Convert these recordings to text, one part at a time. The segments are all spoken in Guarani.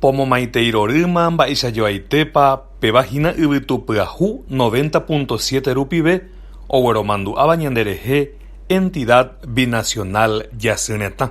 Pomomaitei rorýma mba'eichajoaitépa péva hína yvytu pyahu noventa púnto siete rupive ogueromandu'áva ñanderehe Entidad Binacional Jasy Retã.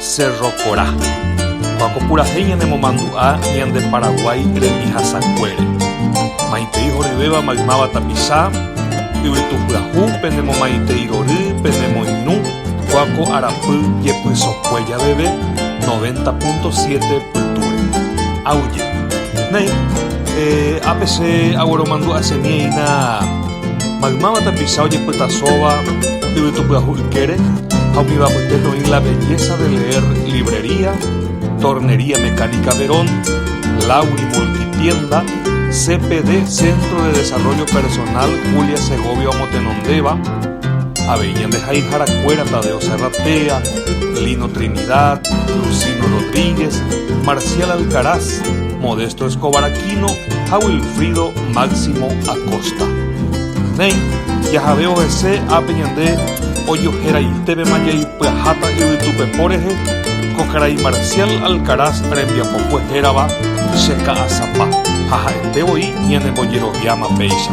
Cerro Corá. Ko'ã ko purahéi ñanemomandu'a ñande Paraguái rembihasakuére. Maitei horyvéva maymáva tapicha, yvytu pyahu, pene momaitei rory, pene moirũ, ko'ã ko arapy jepysokue javeve 90.7 pytúre. Aguyje. Néi, eh, ápe che agueromandu'asemieína. Maymáva tapicha ojepytasóva yvytupyahu ykére ha umíva apytépe oĩ La belleza de leer Librería Tornería Mecánica Verón Lauri Multitienda CPD Centro de Desarrollo Personal Julia Segovia omotenondéva avei ñandehayharakuéra Tadeo Serratea, Lino Trinidad, Lucino Rodríguez, Marcial Alcaraz, Modesto Escobar Aquino ha Wilfrido Máximo Acosta. Néi, jahavévo hese ápe ñande ojoheraitépema jaipyaháta yvytupepo rehe ko karai Marcial Alcaraz rembiapokue hérava Che Ka'asapa ha ha'ete voi ñanembojeroviáma péicha.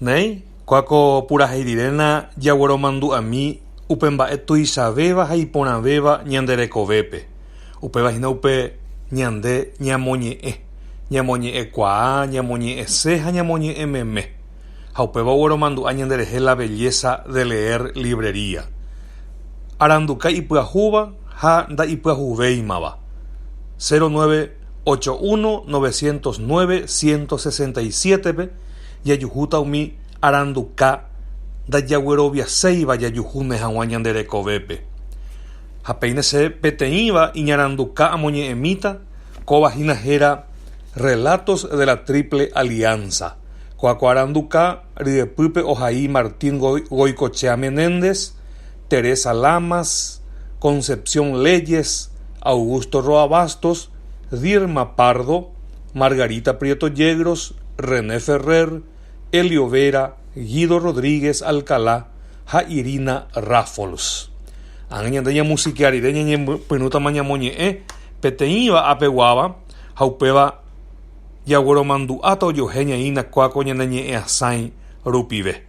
Néi, kua ko purahéi riréna jagueromandu'ami upe mba'e tuichavéva ha iporãvéva ñande rekovépe, upéva hína upe ñande ñamoñe'ẽ, ñamoñe'ẽ kuaa, ñamoñe'ẽse ha ñamoñe'ẽ meme. Ha upéva ogueromandu'a ñande rehe la belleza de leer librería. Aranduka ipyahúva ha nda'ipyahuvéimava. 09 8190967pe jajuhúta umi aranduka ndajagueroviaséiva jajuhúne hag̃ua ñande rekovépe. Ha peine che peteĩva iñaranduka amoñe'ẽmíta, kóva hína héra Relatos de la Triple Alianza, ko'ã ko aranduka ryepýpe ohai Martín Goicoechea Menéndez, Teresa Lamas, Concepción Leyes, Augusto Roa Bastos, Dirma Pardo, Margarita Prieto Yegros, René Ferrer, Elio Vera, Guido Rodríguez Alcalá ha Irina Raffols. Ani ñande ñamusikea rire ñañepyrũtama ñamoñe'ẽ peteĩva apeguáva ha upéva jagueromandu'áta ojohéñaína kuáko ñane ñe'ẽasãi rupive.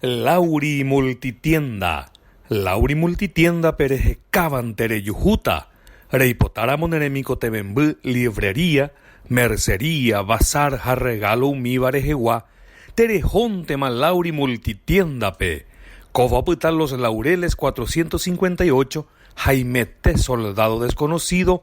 Lauri Multitienda, Lauri Multitienda-pe rehekávante rejuhúta, reipotáramo ne remikotevẽmby liebrería, mercería, bazar ha regalo umíva rehegua, terehóntema Lauri Multitienda-pe. Kóva opyta Los Laureles 458, Haimete, Soldado Desconocido,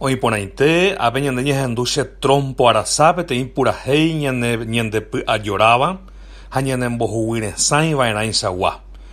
Oĩporãite ápe ñande ñehendu che trompo arasa peteĩ purahéi ñande py'ajoráva ha ñanembohuguyresãi va'erãichagua.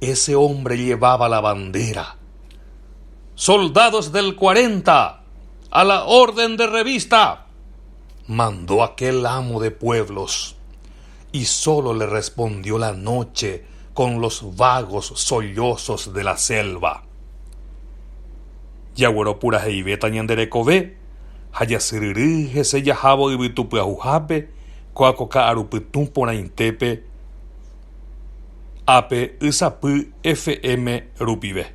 Ese hombre llevaba la bandera. Soldados del 40, a la orden de revista, mandó aquel amo de pueblos, y solo le respondió la noche con los vagos sollozos de la selva. Jaguero puraheivéta ñande rekove, ha jasyryry hese jahávo yvytu pyahuhápe, ko'áko ka'arupytũ porãitépe, ápe y sapy FM rupive.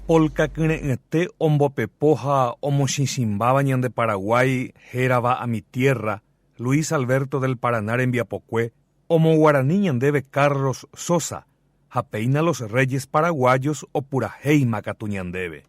Polka kyre'ỹete ombopepo ha omochĩchĩmbáva ñande Paraguái hérava a mi tierra, Luis Alberto del Paraná rembiapokue, omoguarani ñandéve Carlos Sosa, ha péina Los Reyes Paraguayos opurahéima katu ñandéve.